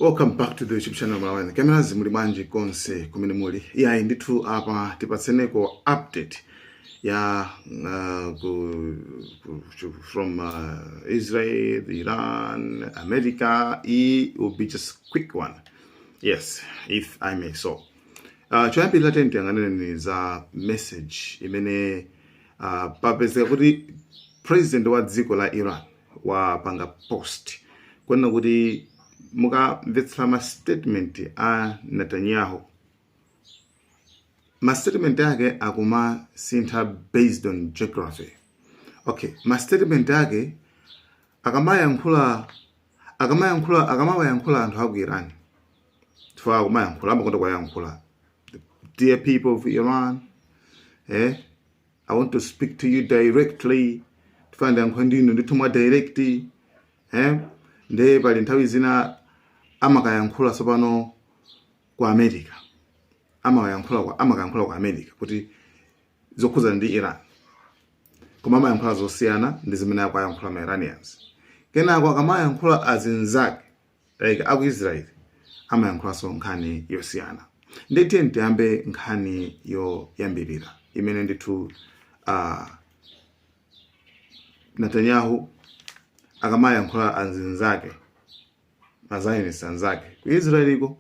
Welcome back to the YouTube channel Malawian Cameras. Muli bwanji konse kumene muli. Iyayi ndithu apa tipatseneko update ya uh, ku, ku, chu- from uh, Israel, Iran, America. It will be just quick one. Yes, if I may so. Uh, choyambirira tiyang'aneni za message imene uh, papezeka kuti president wa dziko la Iran wapanga post kunena kuti mukamvetsera ma statement a netanyahu ma statement ake akumasintha based on geography okay ma statement ake akamayankhula akamayankhula akamawayankhula anthu aku iran chifukwa akumayankhula amakonda kuwayankhula dear people of iran eh i want to speak to you directly ndifuna ndiyankhule ndi inu ndithu mwa direct eh? nde pali nthawi zina amakayankhula tsopano ku america amakayankhula kwa amakayankhula ku america kuti zokhudza ndi iran koma amayankhula zosiyana ndi zimene akuwayankhula ma iranians kenako akamayankhula azinzake like aku Israel amayankhulanso nkhani yosiyana ndiye tiyeni tiyambe nkhani yoyambirira imene ndithu uh, Netanyahu akamayankhula azinzake mazionist anzake ku Israeliko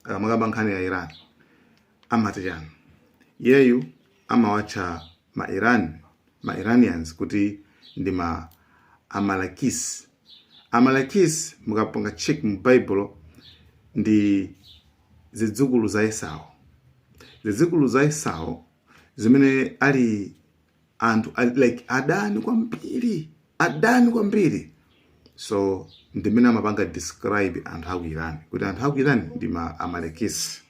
akamakamba nkhani ya Iran amati chani yeyu amawatcha ma Iran ma Iranians kuti ndi ma Amalekis. Amalekis mukapanga check mu Bible ndi zidzukulu za Esau. Zidzukulu za Esau zimene ali anthu ali- like adani kwambiri, adani kwambiri. So ndimene amapanga describe anthu aku Iran kuti anthu aku Iran ndi ma Amalekis.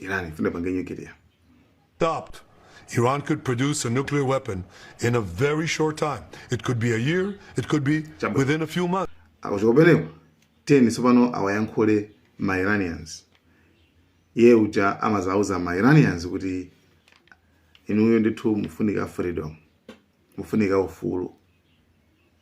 Iran ifuna ipange nyukiliya. Stopped. Iran could produce a nuclear weapon in a very short time. It could be a year, it could be within a few months. Kuchoka kumeneko then tsopano awayankhule ma Iranians. Iye uja amazauza ma Iranians kuti inuyo ndithu mufunika freedom, mufunika ufulu.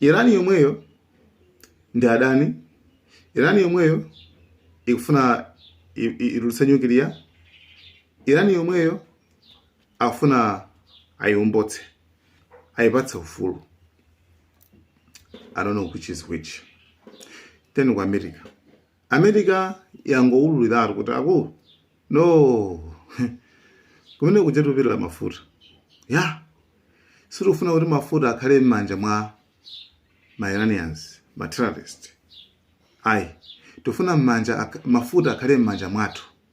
Iran yomweyo ndi adani. Iran yomweyo ikufuna i- i- itulutse nyukiliya. Iran yomweyo akufuna ayiwombotse, ayipatse ufulu. I don't know which is which. Then ku America. America yangoululiratu kuti akulu no kumene kuja tupitira mafuta ya sitikufuna kuti mafuta akhale m'manja mwa ma Iranians ma terrorist ayi tifuna m'manja ak- mafuta akhale m'manja mwathu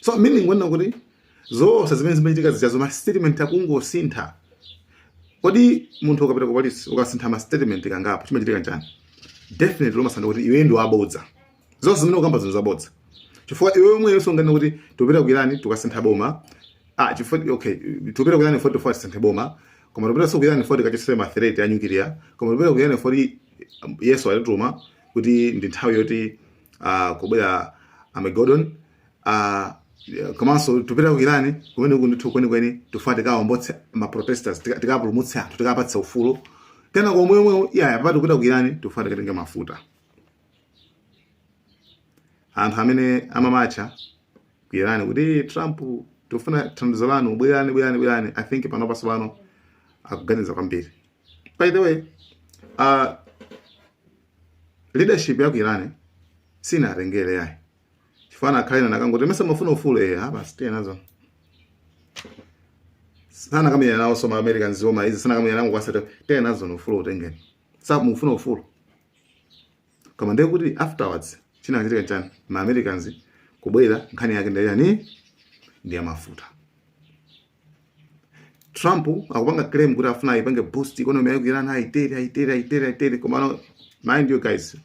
so meaning kunena kuti zonse zimene zimachitika zijazo ma statement akungosintha kodi munthu ukapita ku polisi ukasintha ma statement kangapo chimachitika nchani definitely umasanduka kuti iwe ndi wabodza zonse zimene ukamba zinthu zabodza chifukwa iwe womwe ukunena kuti tupita ku Iran tukasintha boma ah chifukwa okay tupita ku Iran foti foti tisinthe boma koma tupita so ku Iran foti tikachotse threat ya nuclear koma tupita ku Iran foti yesu watituma kuti ndi nthawi yoti uh, kubwera armageddon uh, komanso tupita ku irani kumene uku ndithu kwenikweni tifuna tikaombole maprotesters tika- tikapulumutse anthu tikapatse ufulu kenako mwemwe iyaya papati kupita ku irani tifuna tikatenge mafuta anthu amene amamatcha ku irani kuti "Eh, trump tifuna thandizo lanu bwerani bwerani bwerani i think panopa so pano akuganiza kwambiri by the way uh, leadership ya ku Iran sinatengere ayi chifukwa anakhala ena anakangoti mesa mufuna ufulu eh basi tiye nazo sana kama nawo so ma Americans zoma izi sana kama nangu basi tiye nazo no ufulu utengeni sababu mufuna ufulu kama ndiye kuti afterwards chinakachitika chani ma Americans kubwera nkhani yake ndi ya chani ndi ya mafuta Trump akupanga claim kuti afuna ayipange boost economy ya ku Iran ayitere ayitere ayitere ayitere komano mind you guys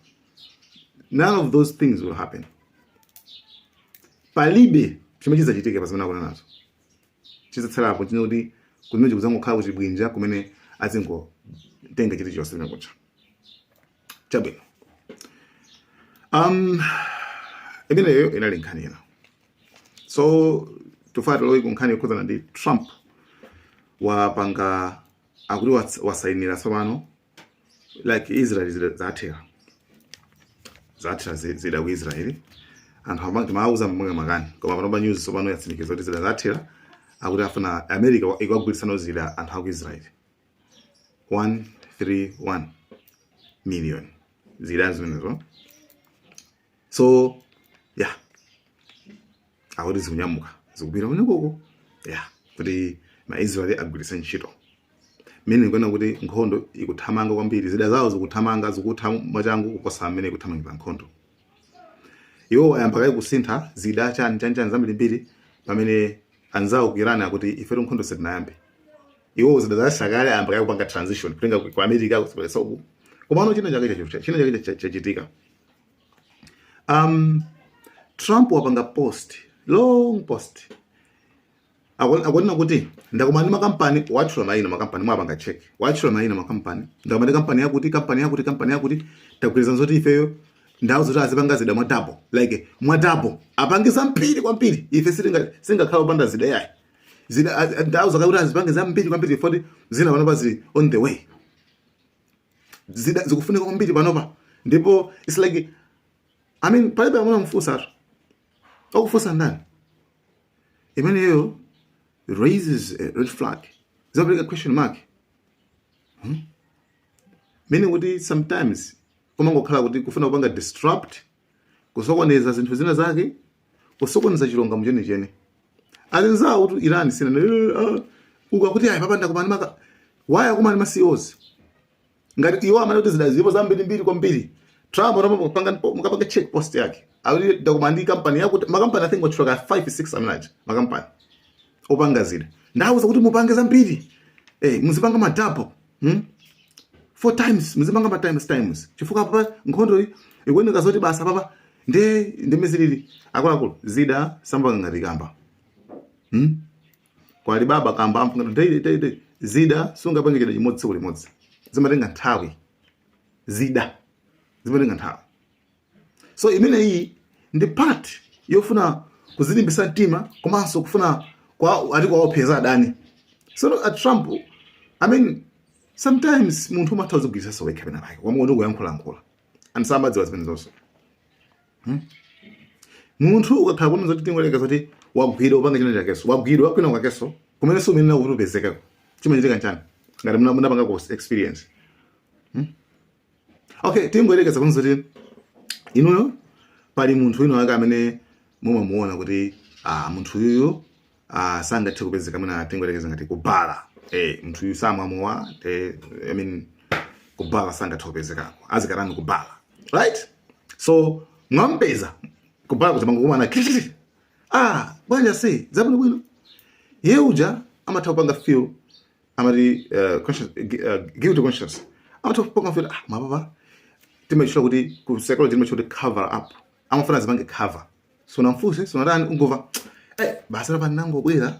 none of those things will happen palibe chimene chidzachitike pazimene akunenazo chidzatsalapo chine kuti kumene kudzangokhala ku chibwinja kumene azingotenga chilichonse chimene kucha chabwino um imeneyo inali nkhani ina so tufuna tilowe ku nkhani yokhudzana ndi trump wapanga akuti wats- wasainira tsopano like israel zida- zathera zathera zi- zida ku israeli anthu amene timawauza amapanga makani koma panopa news tsopano yatsimikiza kuti zida zathera akuti afuna america ikagwirisano zida anthu aku israeli 131 million zidani zimenezo so yeah akuti zikunyamuka zikupita kumeneko yeah kuti maisraeli agwiritse ntchito mmene ndikuona kuti nkhondo ikuthamanga kwambiri zida zawo zikuthamanga zikutha mwachangu kuposa mmene ikuthamangira nkhondo iwo ayamba kaye kusintha zida chani chani chani zambirimbiri pamene anzawo ku iran akuti ifetu nkhondo sitinayambe iwo zida zasha kale ayamba kale kupanga transition kutenga ku ku america kusebenzesa uku komano china chake chacho- china chake cha- chachitika um, trump wapanga post long post Akon- akonena kuti ndakumana ndi makampani watchula maina makampani mwapanga check watchula maina makampani ndakumana ndi kampani yakuti kampani yakuti kampani yakuti tagwirizana zoti ifeyo ndawauza zoti azipanga zida mwa double like mwa double apange zambiri kwambiri ife sitinga- sitingakhala opanda zida yayi zida a- a- ndawauza kuti azipange zambiri kwambiri foti zina panopa zili on the way zida zikufunika kwambiri panopa ndipo its like i mean palibe amene wamfunsa atu wakufunsa ndani imeneyo raises a red flag zikupereka question mark meaning kuti sometimes kumangokhala kuti kufuna kupanga disrupt kusokoneza zinthu zina zake kusokoneza chilungamo chenicheni anzawo ku iran sina eh, ah, ukakuti ayi papa ndakumana ndi makampani ndakumana ndi ma CEOs ngati iwo amene kuti zida zipo zambiri mbiri kwambiri Trump anapanga mukapanga check post yake awiri ndakumana ndi company yakuti makampani i think watchula ka 5 6 amene aja makampani opanga zida ndawauza kuti mupange zambiri eh, muzipanga ma double hmm? four times muzipanga ma times times chifukwa papa nkhondo iyi ikuoneka zoti basa papa nde ndi mmene zilili akuluakulu zida samapanga ngati kamba hmm? kwali baba kamba amfunga daily daily zida sungapange chida chimodzi tsiku limodzi zimatenga nthawi zida zimatenga nthawi so imeneyi ndi part yofuna kuzilimbisa mtima komanso kufuna kwa ati kwaopseza adani so a trump i mean sometimes munthu umatha kuzigwiritsanso wekha pena pake wamuona kuti kuyankhulayankhula and samazidziwa zimene zonse hmm? munthu ukakhala kuti zoti tingoyerekeza zoti wagwidwa upanga china chakeso wagwidwa kwina kwakeso kumene si umene nakuti upezekako chimachitika nchani ngati muna- munapanga ku experience okay tingoyerekeza kuno zoti inuyo pali munthu wina wake amene mumamuona kuti ah, munthu uyuyu ah, sangathe kupezeka mwina tingoyerekeza ngati kubala eh, munthu uyu samwa mowa eh, I mean, kubala sangathe kupezekako azikatani kubala right so mwampeza kubala kuti mwangokumana kikikiki ah bwanji ase zabwino bwino iye uja amatha kupanga feel amati uh, conscious, uh, guilty conscience amatha kupanga kuti ah mapapa timatchula kuti ku psychology timatchula kuti cover up amafuna azipange cover sunamfunse sunatani ungomva eh basi apa ndangobwera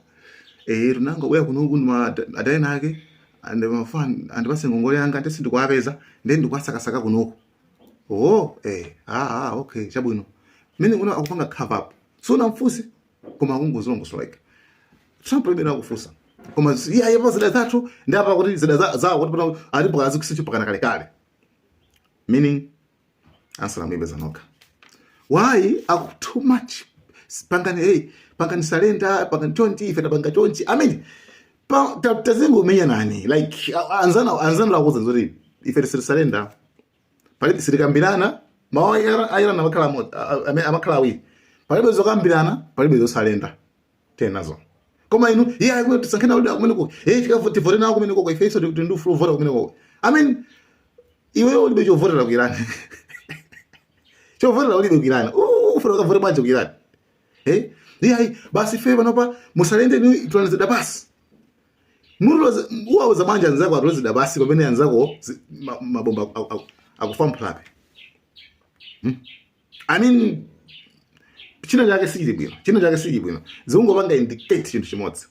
eh ndinangobwera kuno kuno kuli adani ake anandipatsa ngongole yanga nde sindikuwapeza nde ndikuwasakasaka kunoko oh eh ah ah okay chabwino mene kuno akupanga cover up sunamfunse koma kungozilongosola like trump ine ndikufunsa koma zi- iye apa zida zathu ndi apa kuti zida za- zawo kuti pano alipo akazikuuza pakana kalekale meaning ansala muipeza nokha why aku too much pangani hey, pangani salenda pangani chonchi ife tapanga chonchi i mean pa- ta- tazingo umenya nani like a- anzana anzana akuuza zoti ife sititi salenda palibe sitikambirana mawu a Iran- a Iran amakhala amodzi- a- a- amene amakhala awiri palibe zokambirana palibe zosalenda tenazo koma inu iye ayi tisankhana kuti akumeneko iye tikafu tivote nawo kumeneko kwa ifeso tikuti ndi ufulu ovota kumeneko i mean iweyo ulibe chovotera ku Iran chovotera ulibe ku Iran ufuna ukavote bwanji ku Iran eh iye ayi basi ife panopa musalende ni tulanizida basi mutiloza uwauza bwanji anzako atule zida pansi pamene anzako zi- ma- mabomba aku- aku- akufa mphulape Hmm? i mean china chake sichili bwino china chake sichili bwino zikungopanga indicate chinthu chimodzi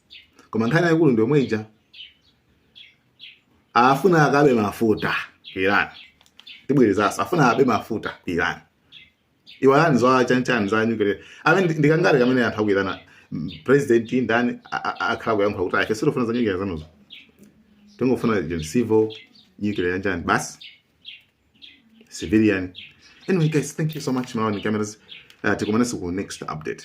koma nkhani yayikulu ndi yomwe ija afuna akabe mafuta ku iran tibwerezaso afuna akabe mafuta ku iran iwalani za chanichani za nyukiliya i mean ndi- ndi kangati kamene anthu aku iran mm, president ndani a- a- akhala kuyankhula kuti ife sitikufuna za nyukiliya zanuzo tingofuna gen civil nyukiliya yanjani basi civilian anyway guys thank you so much malawi cameras uh, tikumananso ku next update